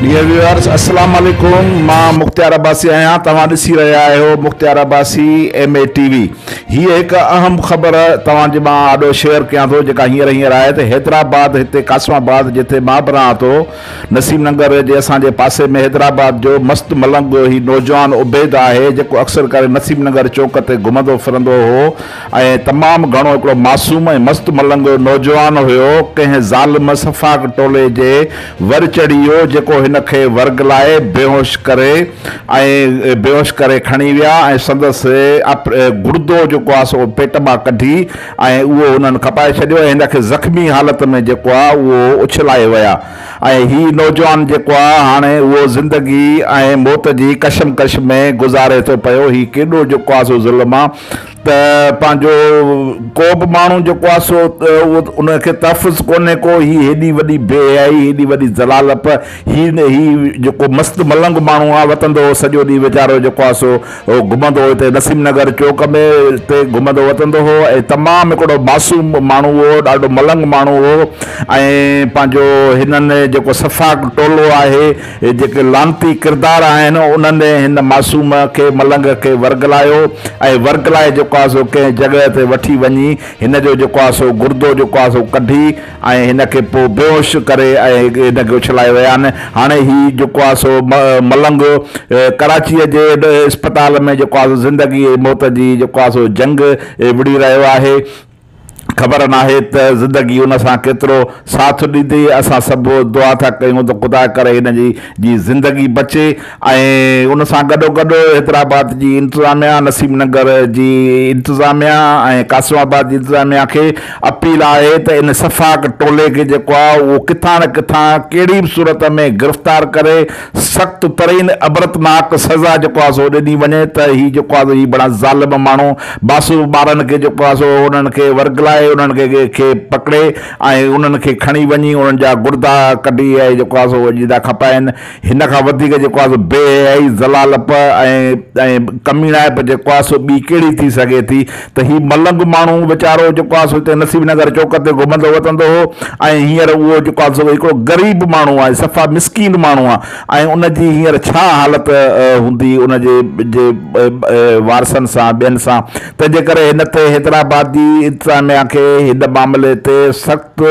Dear viewers السلام عليڪم مان مختيار عباسي آهيان توهان ڏسي رهيا آهيو Mukhtiar Abbasi M A T V هي هڪ اهم خبر توهان جي مان آڏو شيئر ڪيان ٿو جيڪا هينئر هينئر آهي ته حيدرآباد هتي قاسم آباد جتي مان به رهان ٿو نسيم ننگر جي اسان جي پاسي ۾ حيدرآباد جو مست ملنگ هي نوجوان عبيد آهي جيڪو اڪثر ڪري نسيم ننگر چوڪ تي گهمندو ڦرندو هو ۽ تمام گهڻو هڪڙو معصوم ۽ مست ملنگ نوجوان هيو ڪنهن ظالم سفاڪ ٽولي جي ور چڙهي ويو جيڪو هن کي ورغلائي بيهوش ڪري ۽ بيهوش ڪري کڻي ويا ۽ سندس گڙدو جيڪو آهي سو پيٽ مان ڪڍي ۽ اهو انهن کپائي ڇڏيو ۽ هن کي زخمي حالت ۾ جيڪو آ اهو اڇلائي ويا ۽ هي نوجوان جيڪو آ هاڻي اهو زندگي ۽ موت جي ڪشمڪش ۾ گذاري ٿو پيو هي ڪيڏو جيڪو آ سو ظلم آ ته پنهنجو ڪوبه ماڻهو جيڪو آ سو اهو ان کي تحفظ ڪونهي ڪو هي هيڏي وڏي بي حيائي هيڏي وڏي ذلالپ هي هي جيڪو مست ملنگ ماڻهو آ وتندو هو سڄو ڏينهن ويچارو جيڪو آ سو هو گهمندو هو هتي نسيم نگر چوڪ ۾ هتي گهمندو وتندو هو ۽ تمام هڪڙو معصوم ماڻهو هو ڏاڍو ملنگ ماڻهو هو ۽ پنهنجو هنن جيڪو سفاڪ ٽولو آهي جيڪي لعنتي ڪردار آهن انهن هن معصوم کي ملنگ کي ورغلايو ۽ ورغلائي جيڪو آهي سو ڪنهن جڳهه تي وٺي وڃي هن جو جيڪو آهي سو گردو جيڪو آهي سو ڪڍي ۽ هن کي پوء بيهوش ڪري ۽ هن کي اڇلائي ويا آهن هاڻي هي جيڪو آهي سو ملنگ ڪراچيء جي اسپتال ۾ جيڪو آهي سو زندگي ۽ موت جي جيڪو آهي سو جنگ وڙهي رهيو آهي خبر ناهي ته زندگي هن سان ڪيترو ساٿ ڏيندي اسان سڀ دعا ٿا ڪيون ته خدا ڪري هن جي جي زندگي بچي. ۽ ان سان گڏوگڏ حيدرآباد جي انتظاميا، نسيم نگر جي انتظاميا ۽ قاسم آباد جي انتظاميا کي اپيل آهي ته ان سفاڪ ٽولي کي جيڪو آهي اهو ڪٿان نه ڪٿان ڪهڙي به صورت ۾ گرفتار ڪري سخت ترين عبرتناڪ سزا جيڪو آهي سو ڏني وڃي ته هي جيڪو آهي سو هي بڙا ظالم ماڻهو معصوم ٻارن کي جيڪو آهي سو انهن کي ورغلائي انهن کي کي پڪڙي ۽ انهن کي کڻي وڃي انهن جا گردا ڪڍي ۽ جيڪو آهي سو جدا کپائين. هن کان وڌيڪ جيڪو آهي سو بي حيائي، ذلالپ ۽ ڪميڻائپ جيڪو آهي سو ٻي ڪهڙي ٿي سگهي ٿي ته هي ملنگ ماڻهو ويچارو جيڪو آهي سو هتي نصيب نگر چوڪ تي گهمندو وتندو هو ۽ هينئر اهو جيڪو آهي سو هڪڙو غريب ماڻهو آهي صفا مسڪين ماڻهو آهي ۽ ان جي هينئر ڇا حالت هوندي ان جي جي وارثن سان ٻين سان تنهن جي ڪري هن تي حيدرآباد جي انتظاميا کي هن معاملي تي سخت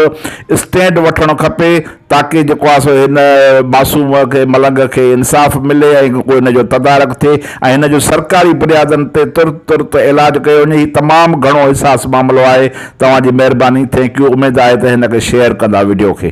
اسٽينڊ وٺڻ کپي. تاڪي جيڪو آهي سو هن معصوم کي، ملنگ کي، انصاف ملي ۽ ڪو هن جو تدارڪ ٿئي ۽ هن جو سرڪاري بنيادن تي ترت ترت علاج ڪيو وڃي. هي تمام گهڻو حساس معاملو آهي. توهان جي مهرباني. Thank you. اميد آهي ته هن کي شيئر ڪندا وڊيو کي.